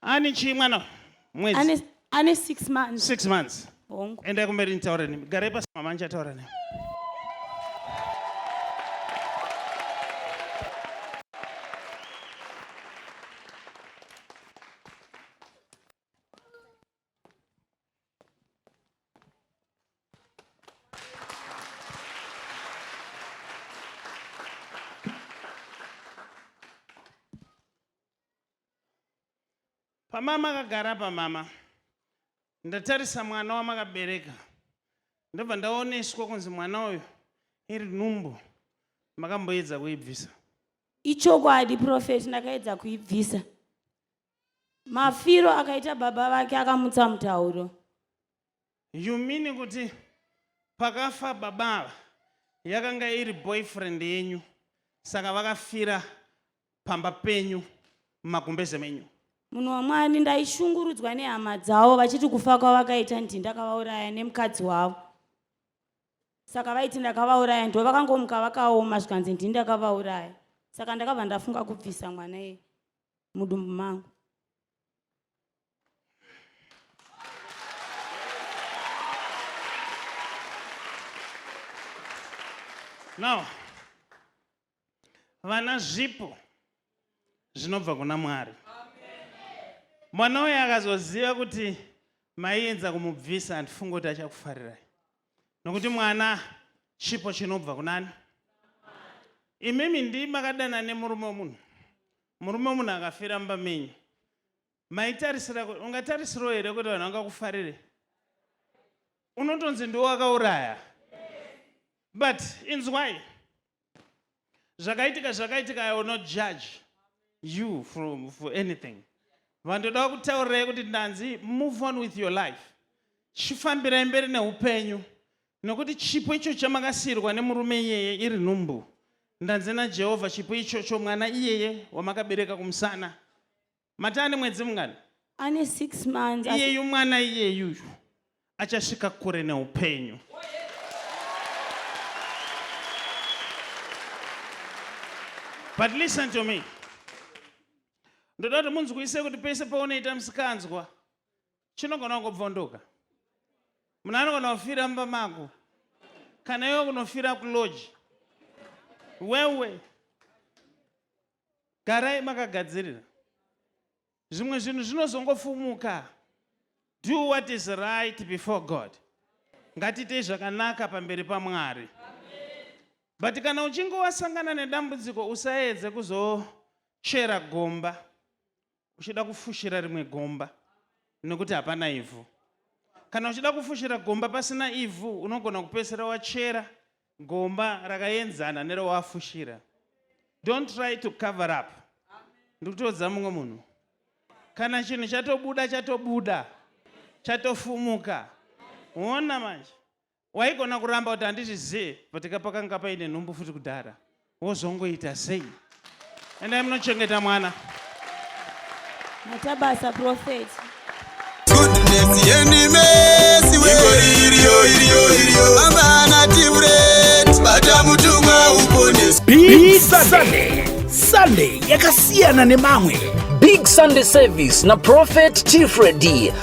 Ani chii mwana? Mwedzi. Ane ane 6 months. 6 months. Hongu. Enda kumberi nitaure nemi. Garai pasi mama ndichataura nemi. pamama akagara pamama ndatarisa mwana wamakabereka ndobva ndaoneswa kunzi mwana uyu iri nhumbu makamboedza kuibvisa ichokwadi profeti ndakaedza kuibvisa mafiro akaita baba vake akamutsa mutauro you mean kuti pakafa baba ava yakanga iri boyfriend yenyu saka vakafira pamba penyu magumbeze menyu munhu wamwari ndaishungurudzwa nehama dzavo vachiti kufa kwavakaita ndi ndakavauraya nemukadzi wavo saka vaiti ndakavauraya ndo vakangomuka vakaoma zvikanzi ndi ndakavauraya saka ndakabva ndafunga kubvisa mwana iye mudumbu mangu now vana zvipo zvinobva kuna mwari mwana uyo akazoziva kuti maienza kumubvisa handifunge kuti achakufarirai nokuti mwana chipo chinobva kunani imimi ndi makadana nemurume wemunhu murume wemunhu akafira mumba menyu maitarisira kuti ungatarisirawo here kuti vanhu vangakufarire unotonzi ndiwo wakauraya but inzwai zvakaitika zvakaitika i will not judge you from for anything vandoda kutaurirai kuti ndanzi move on with your life chifambirai mberi neupenyu nokuti chipo icho chamakasiyirwa nemurume iyeye iri nhumbu ndanzi najehovha chipo ichocho mwana iyeye wamakabereka kumusana mati ane mwedzi mungani ane six months asi- iyeyu mwana iyeyuyu achasvika kure neupenyu but listen to me ndoda kuti munzwise kuti pese paunoita musikanzwa chinogona kungobvondoka munhu anogona kufira mumba mako kana iwe kunofira kuloji wewe garai makagadzirira zvimwe zvinhu zvinozongofumuka do what is right before god ngatiitei zvakanaka pamberi pamwari but kana uchinge wasangana nedambudziko usaedze kuzochera gomba uchida kufushira rimwe gomba nekuti hapana ivhu kana uchida kufushira gomba pasina ivhu unogona kupesera wachera gomba rakaenzana nerewafushira don't try to cover up ndikutoudza mumwe munhu kana chinhu chatobuda chatobuda chatofumuka ona manje waigona kuramba kuti handizvizive but ka pakanga paine nhumbu futi kudhara wozongoita sei endai munochengeta mwana mutabasa prophet goodness yenimesi iriyo iriyo iriyo amana timret bata mutumwa upones big sunday sunday yakasiyana nemamwe big sunday service na prophet tifredi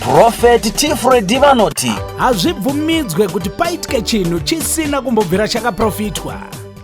Prophet Tifredi vanoti hazvibvumidzwe kuti paitike chinhu chisina kumbobvira chakaprofitwa.